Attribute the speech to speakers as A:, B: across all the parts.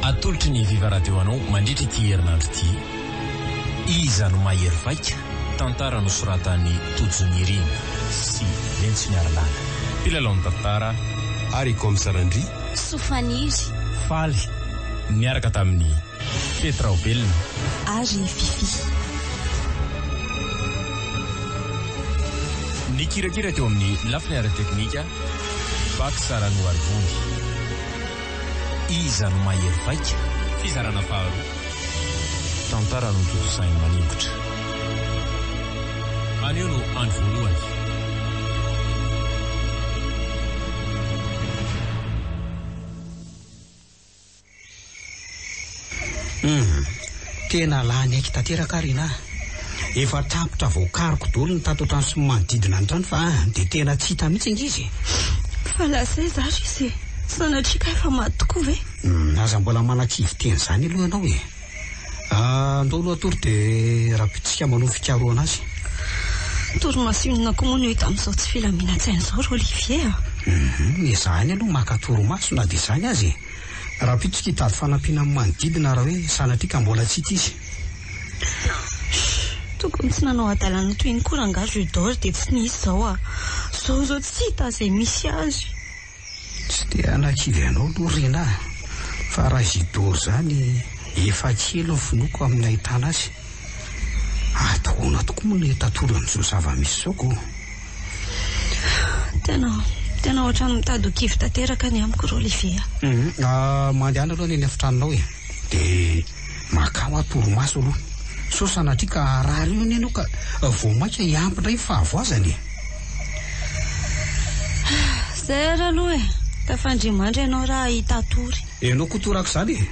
A: Atolotry ny Viva Radio anao mandritra ity herinandro ity Iza no mahery vaika? tantara nosoratan'i Tojo Nirina sy Lentsy Miarilana, mpilalaon'ny tantara, ary Comme
B: Sarandria, Soa Faniry,
C: Faly
A: niaraka tamin'i. Fety Raobelina. Ary i
C: Fiffi.
A: Nikirakira teo amin'ny lafiny ara-teknika, Bac Saranoarivony. Iza no mahery vaika? Fizarana faharoa. Tantara notontosain'i Maningotra. Anio no andro voalohany.
D: Humm. Tena lany aiky tanteraka ary ina a! Efa tapitra voakariko dolo ny tato an-trano sy ny manodidina ny trano fa dia tena tsy hita mihitsy ange izy e! Fa na
C: zay za ry se, sanatria ka efa maty tokoa ve? Humm, aza mbola
D: manakivy teny izany aloha ianao e! Andao aloha tory dia rabotsika manao fikarohana azy. Torimaso
C: inona koa moa no hita amin'izao tsy filaminantsaina izao ry Olivier a! Hum, ezahiny
D: aloha maka torimaso na dia izany aza e! Rabotsika hitady fanampiana amin'ny manodidina raha hoe sanatria ka mbola tsy hita izy. Shh!
C: Tokony tsy nanao hadalana toy iny koa rangahy Jules d'or dia tsy nisy izao a! Izao izao tsy hita izay misy azy. Tsy
D: dia hanakivy anao aloha Rinah a! Fa raha Isidore izany efa kely ny finoako amin'ny nahitana azy. Atahoana tokoa moa ny hitatory an'izao zava-misy izao ko! Tena,
C: tena ohatran'ny mitady ho kivy tanteraka ny amiko ry Olivier a! Humm,
D: mandehana aloha ny eny efitranonao e! De makao aho torimaso aloha sao sanatria ka haharary eo anie ianao ka vao mainka hiampy indray ny fahavoazana e!
C: Zay ary aloha e! Tafandrimandry ianao raha hahita ahy tory. Ianao koa toraka izany
D: e!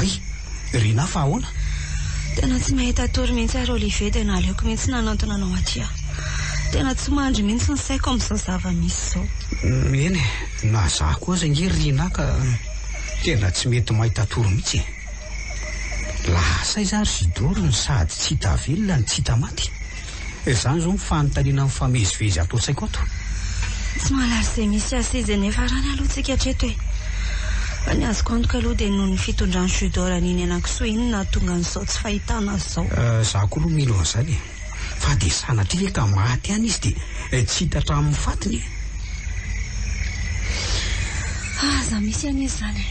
D: Ry Rinah fa ahoana? Tena tsy
C: mahita tory mihitsy ary Olivier dia naleoko mihitsy nanantona anao aty aho. Tena tsy mandry mihitsy ny saiko amin'izao zava-misy izao. Eny e,
D: na izaho koa aza ange ry Rinah ka tena tsy mety mahita tory mihitsy e. Lasa aiza ary Zidoro no sady tsy hita velona no tsy hita maty? Izany izao ny fanontaniana mifamezivezy ato an-tsaiko ato. Tsy mahalala
C: izay misy azy sy izay niafarany aloha tsika hatreto e! Fa ny azoko antoka aloha dia noho ny fitondran'i Judo Raninaianankisoa iny no nahatonga an'izao tsy fahitana azy izao. Izaho koa aloha mino
D: an'izany e! Fa dia sanatria ve ka maty ihany izy dia tsy hita hatramin'ny fatiny e?
C: Aza misy anie izany e!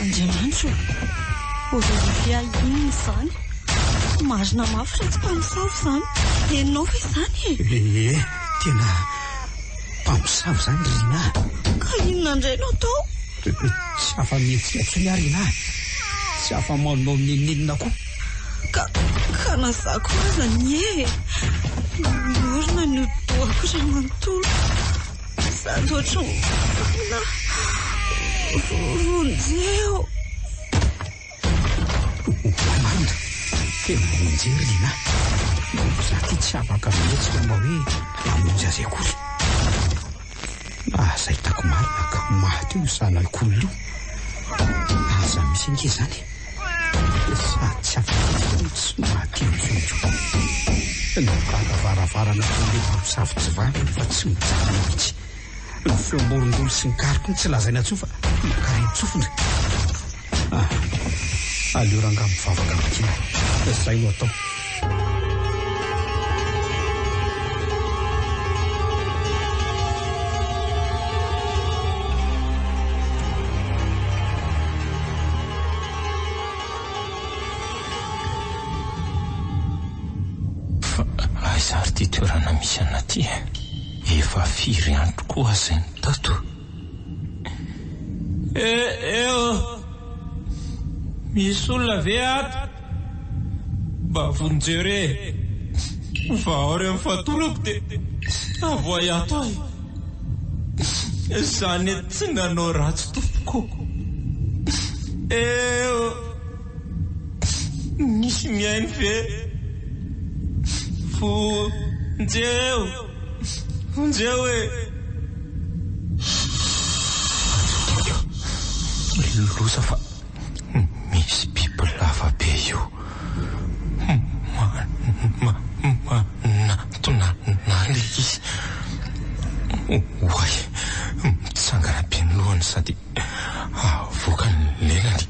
C: Andriamanitro ô! Aujourd'hui ahy inona izany? Marina mafy fa tsy mpamosavy izany henonao ve izany e? Ee, tena
D: mpamosavy izany ry Rinah a! Ka inona
C: indray no atao? Tsy
D: afa-mihetsika intsony aho Rinah, tsy afa-manao n'inon'inona koa. Ka,
C: ka na za koa aza anie e. Miorina ny hodi-dohako raha manontolo. Sady ohatran'ny olona vonjeo.
D: Amanda, tena vonjeo ry Lina. Za ity tsy afaka mihetsika mba hoe hamonjy azy akory. Aza hitako marina ka maty io zanako olona io. Aza misy ange izany e. Sady tsy afaka no tsy maty intsony. Ny varavaravaranan' ilay ramosavy tsy vangy efa tsy mijanona mihitsy. Ny feom-borongolo sy ny kariko no tsy lazaina intsony fa mankareny tsofina. Ah! Aleo rangah mivavaka mitia. Izay no atao.
A: Aiza ary ity toerana misy an'aty e? Efa firy andro koa aza iny tato. Eeo! Misy olona ve ato? Mba vonjeo re fa aorian' ny fatorako dia avoahy ato aho e! Za anie tsy nanao ratsy tompoko ô! Eeo! Misy mihaino ve? Vonjeo! Vonjeo e! Loza fa misy biby lava be io manantona anah le izy. Oay, mitsangana be ny lohany sady avoaka ny lelany.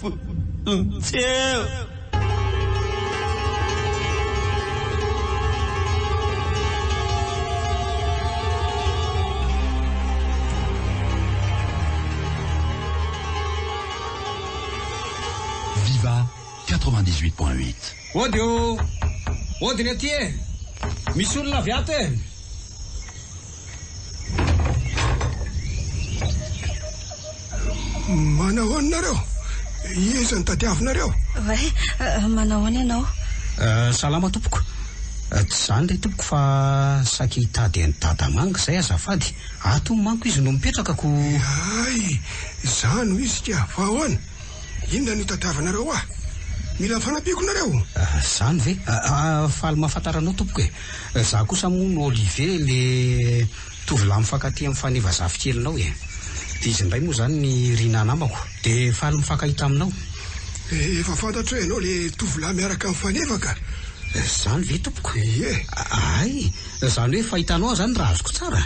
E: Vonintsev. Viva 98 point 8. Ody o!
D: Ody ny aty e! Misy olona avy ato e!
B: Manao ahoana nareo? Iza no tadiavinareo? Ray,
C: manao ahoana ianao? Salama
D: tompoko. Tsy izany ilay tompoko fa saika hitady an'i Dada Manga izay azafady. Ato hono manko izy no mipetraka ko. Hay,
B: izaho no izy ka. Fa ahoana? Inona no tadiavinareo ahy? Mila fanampiako nareo? Izany ve?
D: Faly mahafantara anao tompoko e. Za kosa moa no Olivier le tovolahy mifankatia am Fanny vazafikelinao e! de izy ndray moa zany ny Rina namako de faly mifankahita aminao. Efa
B: fantatro hoe ianao le tovolahy miaraka am Faneva ka! Zany ve
D: tompoko? Ie! Hay! Zany hoe fahitanao aho zany raha azoko tsara?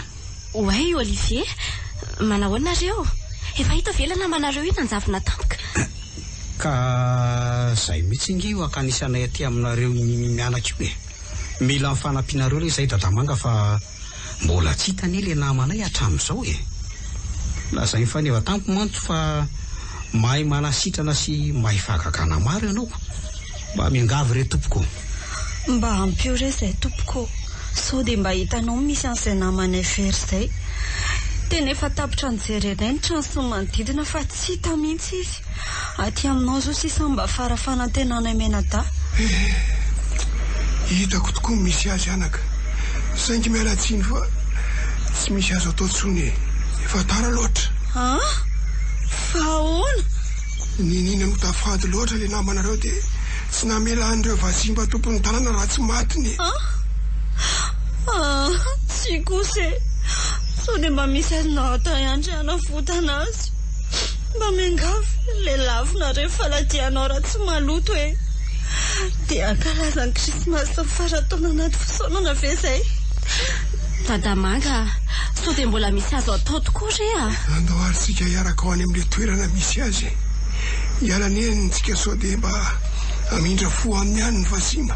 D: Oay
F: Olivier! Manahoana nareo? Efa hita ve ilay namanareo io nanjavona tampoka? Ka
D: zay mihitsy nge io hakanisanay aty aminareo mianaka io e! Mila fanampianareo re izahay Dadamanga fa mbola tsy hita anie ilay namanay hatramin'izao e! Lazain'i Faneva tamiko mantsy fa mahay manasitrana sy mahay fahagagana maro ianao. Mba miangavy re tompoko. Mba
C: ampio re izay tompoko ô! Sao dia mba hitanao misy an'izay namanay very izay. Tena efa tapitra nijery anay ny trano sy ny manodidina fa tsy hita mihitsy izy. Aty aminao izao sisa mba fara fanantenana i Menadaha. Eh!
B: Hitako tokoa ny misy azy anaka. Saingy miala tsiny fa tsy misy azo atao intsony e! Efa tara loatra. An?
C: Fa ahoana? Niniana
B: no tafady loatra ilay namanareo dia tsy namela an'ireo vazimba tompon'ny tanàna raha tsy matiny e! An? Ah!
C: Tsia kosa e! Sao dia mba misy azonao atao ihany re hanavotana azy? Mba miangavy lelafo nareo faladianao raha tsy maloto e! Dia hankalaza ny krismasy ny farantaona anaty fisaonana ve izay? Dadamanga
F: a! Sao dia mbola misy azo atao tokoa re a! Andao ary tsika
B: hiaraka ho any amin'ilay toerana misy azy e! Hiala anie ny tsika sao dia mba hamindra fo aminy ihany ny vazimba.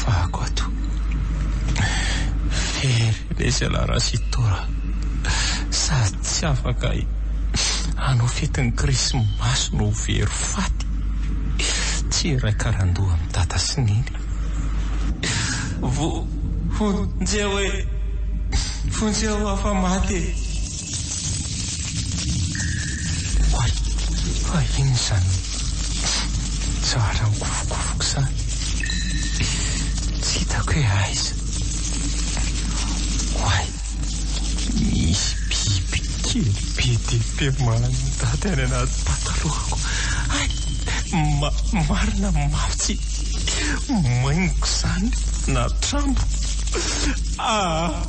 A: Fahako ato. Very ilay zalahy Rasitora sady tsy afaka hanao fetin'ny krismasy no very faty. Tsy iray karandoha amin'i Dada sy Neny. Vonjeo e! Vonjeo afa-maty e! Oay! Fa inona izany? Zara mikofokofoka izany. Tsy hitako hoe aiza. Oay! Misy biby kely be dia be mandady any anaty patalohako. Hay! Ma, marina mafy tsy, maingoka izany na trambo. Aa!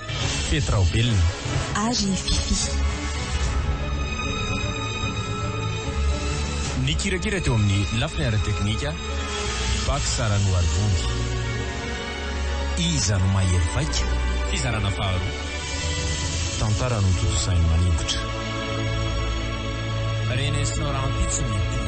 A: Fety Raobelina. Ary Fiffi. Nikirakira teo amin'ny lafiny ara-teknika, Bax Ranoarivony. Iza no mahery vaika? Fizarana faharoa. Tantara notontosain'i Maningotra. Renesina rahampitso ny tony.